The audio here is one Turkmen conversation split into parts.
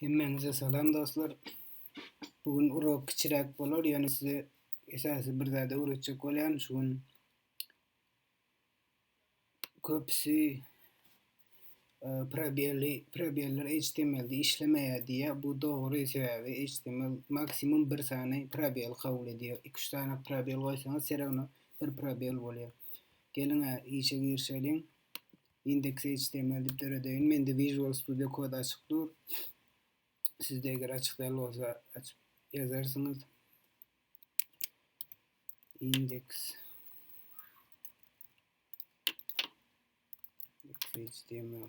Hemmäňize salam dostlar. Bu gün urok kiçiräk bolar, ýöne size esasy bir zada öwretjek bolýan. Şu gün köpüsi e, probelli probeller HTML-de işlemeýär diýýär. Bu dogry sebäbi HTML maksimum bir sany probel kabul edýär. 2-3 sany probel goýsaňyz, seregini bir probel bolýar. Geliň, işe girişeliň. Index html dip döredeýin. Mende Visual Studio Code açyk dur. Sizde eger açyk däl bolsa açyp ýazarsyňyz. Index html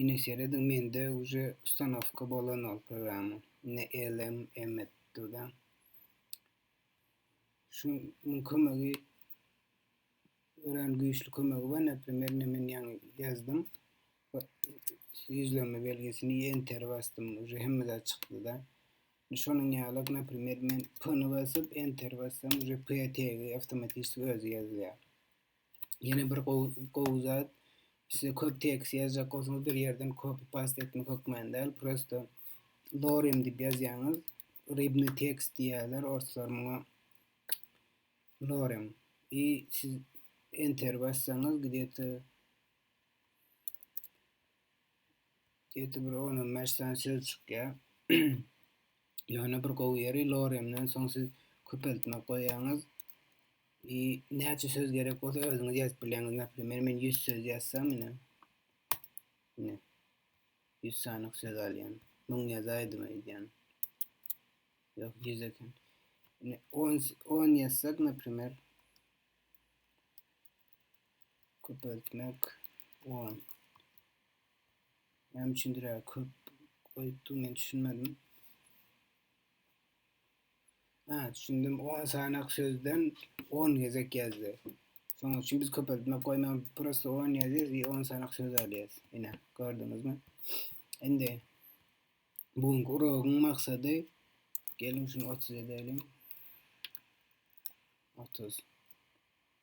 Ine serediň mende uje ustanowka bolan ol programma. Ine elm emet durda. Şu mun kömegi ören güýçli kömegi bar. Näprimýer ine men ýaňy ýazdym. Ýüzlenme belgisini enter basdym. Uje hemme zat çykdy da. Şonuň ýaly näprimýer men p-ni basyp enter bassam uje p tegi awtomatiki özi ýazýar. Ýene bir gowy zat, size köp tekst ýazjak bolsaňyz bir ýerden copy paste etmek hökmany däl, prosta lorem diýip ýazýaňyz, rybny tekst diýýärler orslar muňa lorem. I siz enter bassaňyz gidýete Ýedi bir on on beş sany söz çykýar. Ýöne bir gowy ýeri loremden soň siz köpeltme goýýaňyz. I näçe söz gerek bolsa özüňiz ýazyp bilýäňiz. Näme men 100 söz ýazsam ine. Ine. 100 sany söz alýan. 1000 ýazaýdym aýdýan. Ýok 100 eken. Ine 10 10 ýazsak, näme Köpeltmek on. Näme üçindir ýa köp goýupdy men düşünmedim. Ha, düşündim. 10 sanak sözden 10 gezek ýazdy. Soň üçin biz köpeltmek goýman prosta 10 ýazýarys we 10 sanak söz alýarys. Ine, gördüňizmi? Indi bu günki uragyň maksady geliň şuny 30 edeliň. 30.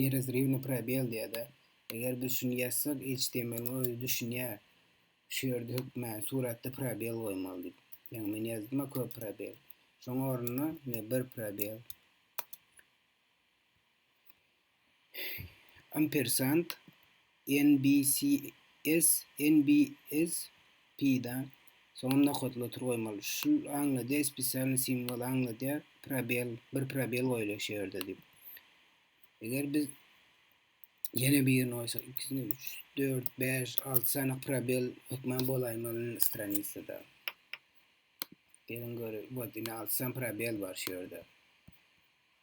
nerazrywny probel diýada eger biz şuny ýazsak html-iň özi düşünýär şu ýerde hökmany suratda probel goýmaly diýip ýagny men ýazdym-a köp probel şoň ornuna ine bir probel ampersant NBCS, NBSP-da soňam nokatly otur goýmaly. Şul aňladýar, spesialnyý simwol aňladýar, probel, bir probel goýulýar şu ýerde diýip. Eger biz ýene birini goýsak, ikisini, üç, dört, bäş, alty sany probel hökman bolaýmaly stranisada. Geliň göre, bot, indi alty sany probel bar şu ýerde.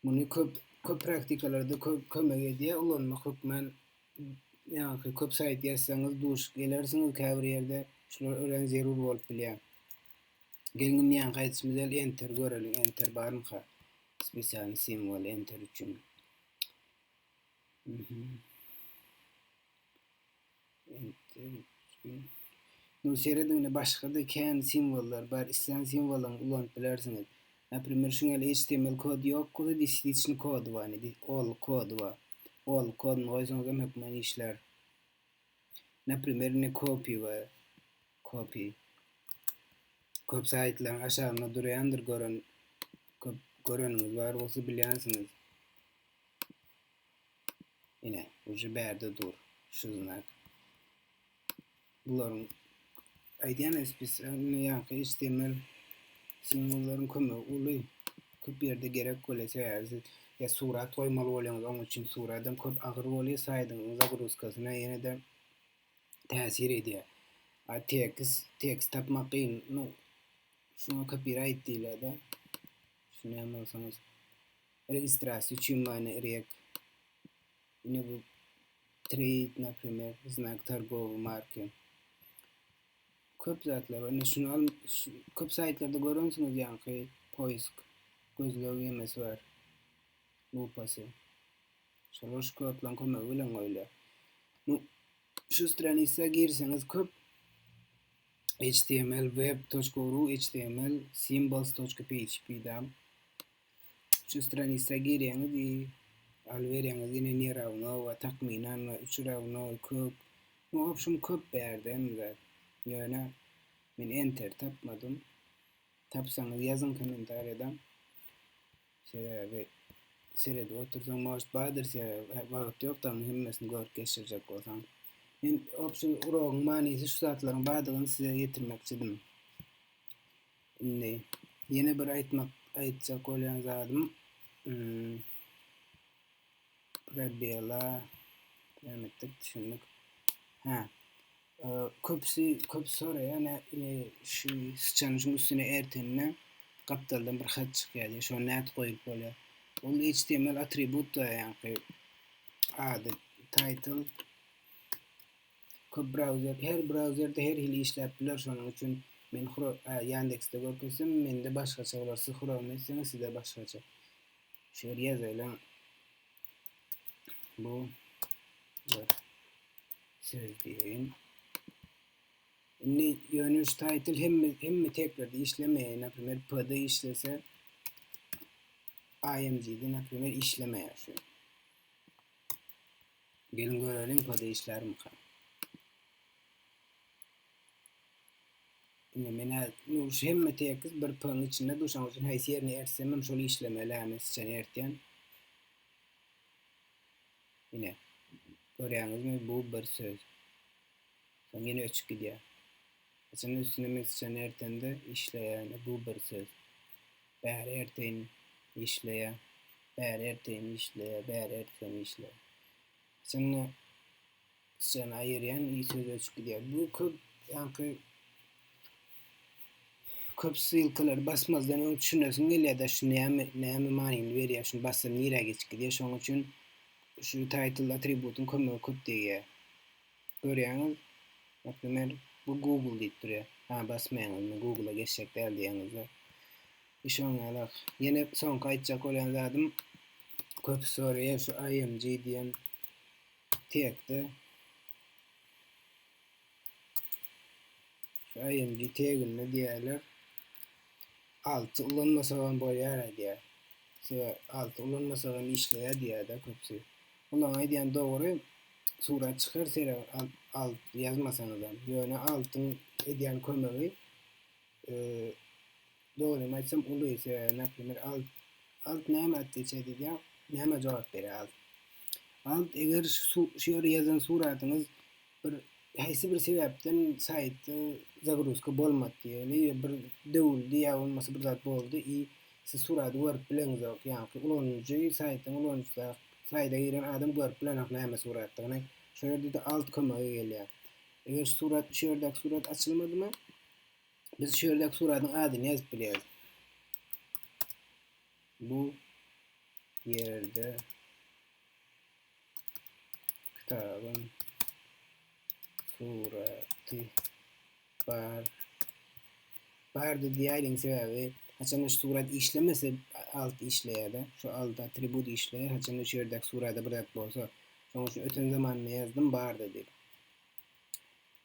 Muny köp köp praktikalarda köp kömek edýär ulanmak hökmän ýaňky köp saýt ýazsaňyz duşup gelersiňiz käbir ýerde şular örän zerur bolup bilýär. Gelnim ýaňky aýdyşymyz ýaly enter göreliň enter barmyka spesialny simwol enter üçin. Mhm. Indi seredinle başgada kän simwollar bar islän simwolyňy ulanyp bilersiňiz. Naprimer şuň ýaly html kody ýok bolsa disliçni kody bar indi ol kody bar. Ol kodyny goýsaňyzam hökman işlär. Naprimer indi copy bar. Copy. Köp saýtlaryň aşagynda durýandyr gören köp göreniňiz bar bolsa bilýänsiňiz. Ine, uje bärde dur şu znak. Bularyň aýdýany spesialny ýaňky HTML simwollaryň kömegi uly. Köp ýerde gerek bolýar, sebäbi ya surat goýmaly bolýaňyz, oň üçin surat hem köp agyr bolýar, saýdyňyzyň zagruzkasyna ýene-de täsir edýär. A tekst, tekst tapmak kyn. No, şuna kopirayt diýilýär-de. Düşünýän bolsaňyz. Registrasiýa üçin many irek. Ine bu trade naprimer znak targowy marki. Köp zatlar bar. Ine şunu al köp saýtlarda görensiňiz ýaňky poisk gözleg ýemesi bar. Lupasy. Şolar şu kodlaryň kömegi bilen goýulýar. Bu şu stranisa girseňiz köp html web.ru html symbols.php dam Şu stranisa girýäňiz i aly berýäňiz ine ne rawno we takmynan we üç rawno kök we obşem köp bärde hem zat ýöne men enter tapmadym tapsaňyz ýazyň kommentariýada sebäbi seredip otursaň most bardyr sebäbi wagt ýok daň hemmesini görüp geçirjek bolsaň men obşem urogyň manysy şu zatlaryň bardygyny size ýetirmekçidim. Indi ýene bir aýtmak aýtjak bolýan zadym prebela näme etdik düşündik. Ha. Köpsi köp soraýan şu sıçanyň şuň üstüne ertende gapdaldan bir hat çykýar diýip, şony nädip goýup bolýar? Ol HTML atribut da ýaňky ady title Köp brauzer, her brauzerde her hili işläp biler şonuň üçin men hro a Yandexde görkezsem mende başgaça bolar siz Chrome etseňiz size başgaça. Şu ýer ýazaýlaň. Bu bir söz diýeýin. Indi ýöne şu title hemme hemme teklerde işlemeýär. Naprimýer PD işlese IMG-de naprimýer işlemeýär şu. Geliň göreliň pode işlärmika. Ine menä nu şu hemme tekiz bir p nyň içinde du şoň üçin haýsy ýerini ertsemem şol işlemeli hä men syçany ertýän. Ine. Görýäňizmi bu bir söz. Soň ýene öçüp gidýär. Haçan üstüne missiýon ertende işleýäne bu bir söz. Bäri erteýin işleýä, bäri erteýin işleýä, bäri ertgen işleýä. Haçanda syýany aýyrýan i söz öçüp gidýär. Bu köp ýaňky köp ssylkalary basmazdan öň düşünesiň gelýär-de şu näme näme manyny berýär, şuny bassam nirä geçip gidýär. Şonuň üçin şu title atributyň kömegi köp degýär. Görýäňiz, Nätdiler, bu Google diýip durýar. Hä, basmaýaňyz, men Google-a geçjek däl diýýäňizde. Iş oňňalak. Ýene soňky aýtjak bolýan zadym, köpüsi soraýar şu IMG diýen tekde. Şu IMG teginde diýýärler. Alty ulanmasagam bolýar diýýär. Sebäbi alty ulanmasagam işleýär diýýär-de köpüsi. Olaň aýdýany dogry surat çykar sere alt ýazmasaňyzam ýöne altyň edýän kömegi dogrymy aýtsam uly sebäbi naprimer alt alt näme atdiýse diýýä näme jogap berýä alt alt eger şu ýerde ýazan suratyňyz Bir haýsy bir sebäpden saýtda zagruzka bolmady diýeli ýa bir döwüldi ýa bolmasa bir zat boldy i siz surady görüp bileňizok ýaňky ulanyjy saýtyň ulanyjysy saýda giren adam görüp bilenok näme suratdygyny şol ýerde-de alt kömege gelýär eger şu surat şu ýerdäki surat açylmadymy biz şu ýerdäki suradyň adyny ýazyp bilýäris bu ýerde kitabyň suraty bar. Bardy diýäýdim sebäbi haçanda şu surat işlemese alt işleýärdi. Şu alt atribut işleýär. Haçanda şu ýerdäki surada bir zat bolsa. Şonuň üçin öten zamanda ýazdym bardy diýip.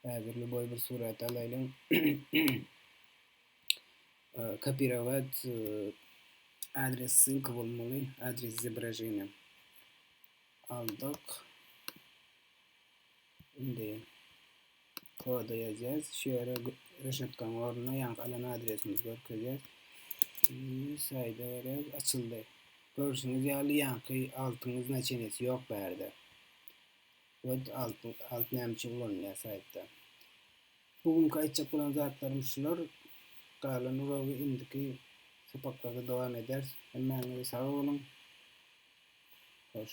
Häzir lýuboý bir surat alaýlyň. Kopirować adres ssylka bolmaly, adres izobraženiýa. Aldyk. Indi koda ýazýas. Şu ýere reşetkaň ornuna ýaňky alan adresimizi görkezýär. Saýda berýär, açyldy. Görşüňiz ýaly ýaňky altyň iznaçenesi ýok bärde. Word alt näme üçin ulanylýar saýtda? Bu günki aýtjak bolan zatlarym şular. Galan uragy indiki sapaklarda dowam ederis. Hemmäňize sag boluň. Hoş.